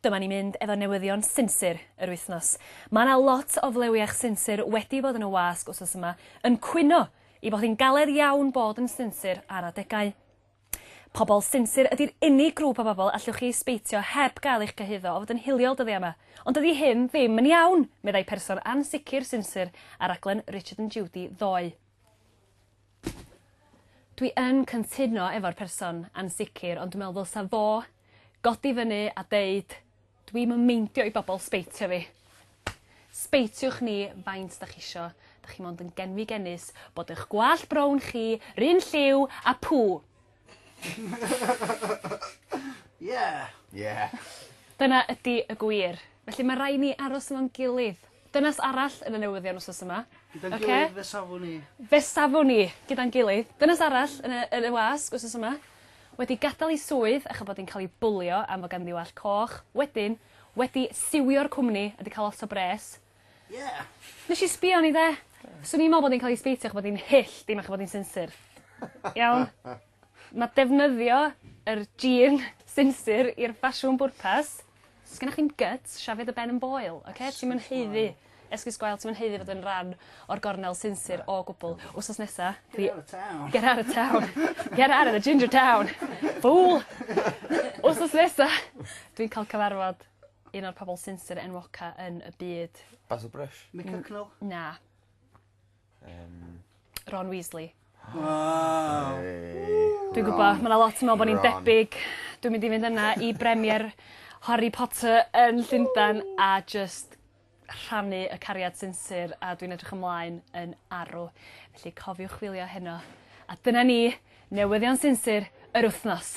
Dyma ni mynd efo newyddion sinsir yr wythnos. Mae yna lot o flewiach sinsir wedi bod yn y wasg wsos yma yn cwyno i fod hi'n galed iawn bod yn sinsir ar adegau. Pobl sinsir ydy'r unig grŵp o bobl allwch chi ysbeitio heb gael eich cyhuddo o fod yn hiliol dyddiau yma. Ond dydy hyn ddim yn iawn, meddai person ansicr sinsir ar raglen Richard and Judy ddoe. Dwi yn cyntuno efo'r person ansicr ond dwi me'wl ddylsa fo godi fyny a deud dwi'm yn meindio i bobol sbeitio fi. Sbeitiwch ni faint 'dach chi isio, 'dach chi mond yn genfigennus bod 'ych gwallt brown chi 'run lliw a pŵ! Yeah! Yeah! Dyna ydi y gwir. Felly ma' rai' ni aros efo'n gilydd. Dynas arall yn y newyddion wsos yma. Gyda'n gilydd. Oce? Fe safwn i. Fe safwn i! Gyda'n gilydd. Dynas arall yn y yn y wasg wsos yma wedi gadal 'i swydd acho bod 'i'n ca'l 'i bwlio am fo' ganddi wallt coch, wedyn wedi siwio'r cwmni a 'di ca'l lot o bres. Ie. Nesh i sbïo arni 'de. Swn i'n me'wl bod 'i'n ca'l 'i sbeitio acho bod 'i'n hyll dim acho bod 'i'n sinsir. Iawn? Ma' defnyddio yr jean sinsir i'r ffasiwn bwrpas. Sgennoch chi'm gyts, shafio dy ben yn boel, oce? Ti'm yn haeddu esgus gwael ti'm yn haeddu fod yn ran o'r gornel sinsir o gwbwl. Wsos nesa fi... Get out of town. Get out of town. Get out of the ginger town. Fool. Wsos nesa dwi'n ca'l cyfarfod Un o'r pobol sinsir enwoca yn y byd. Basil Brush. Mick Hucknall? Na. Yym. Ron Weasley. Waw. Hey. Dwi'n gwbo ma' 'na lot yn me'wl bo' ni'n debyg. Dwi'n mynd i fynd yna i bremier Harry Potter yn Llundan a jyst rhannu y cariad sinsir a dwi'n edrych ymlaen yn arw. Felly cofiwch wylio heno. A dyna ni, newyddion sinsir yr wythnos.